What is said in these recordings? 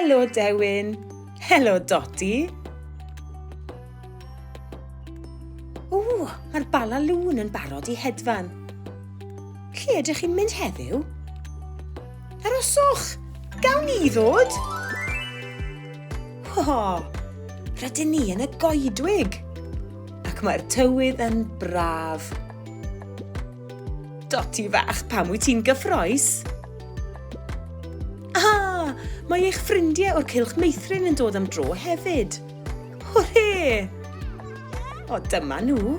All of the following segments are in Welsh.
Helo Dewin! Helo Dodi! O, mae'r bala lŵn yn barod i hedfan. Lle ydych chi'n mynd heddiw? Aroswch! Gawn ni ddod? Ho! Rydyn ni yn y goedwig! Ac mae'r tywydd yn braf. Doti fach, pam wyt ti'n gyffroes? Ah! Mae eich ffrindiau o'r Cylch Meithrin yn dod am dro hefyd. Hwrê! O, dyma nhw.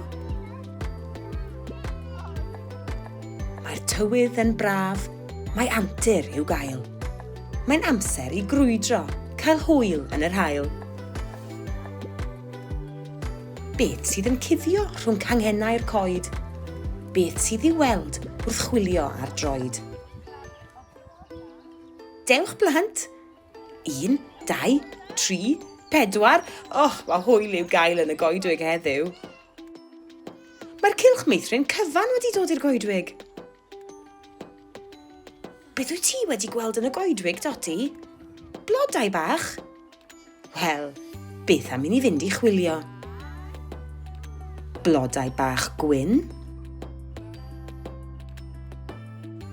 Mae'r tywydd yn braf. Mae antur i'w gael. Mae'n amser i grwydro, cael hwyl yn yr hael. Beth sydd yn cuddio rhwng canghennau'r coed? Beth sydd i weld wrth chwilio ar droed? Dewch blant! Un, dau, tri, pedwar. Och, mae hwyl i'w gael yn y goedwig heddiw. Mae'r cylch meithrin cyfan wedi dod i'r goedwig. Beth wyt ti wedi gweld yn y goedwig, Dodi? Blodau bach? Wel, beth am i ni fynd i chwilio? Blodau bach gwyn?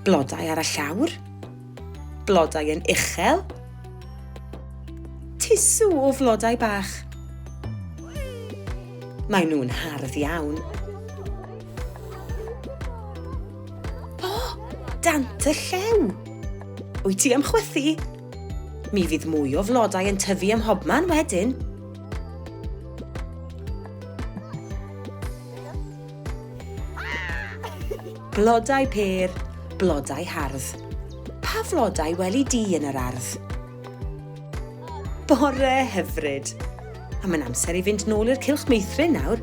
Blodau ar y llawr? Blodau yn uchel? Tisw o flodau bach? Mae nhw'n hardd iawn. O, dant y llew! Wyt ti am chwythu? Mi fydd mwy o flodau yn tyfu ym mhobman wedyn. Blodau pêr, blodau hardd. Pa flodau weli di yn yr ardd? Bore hyfryd! A mae'n amser i fynd nôl i'r cylch meithrin nawr.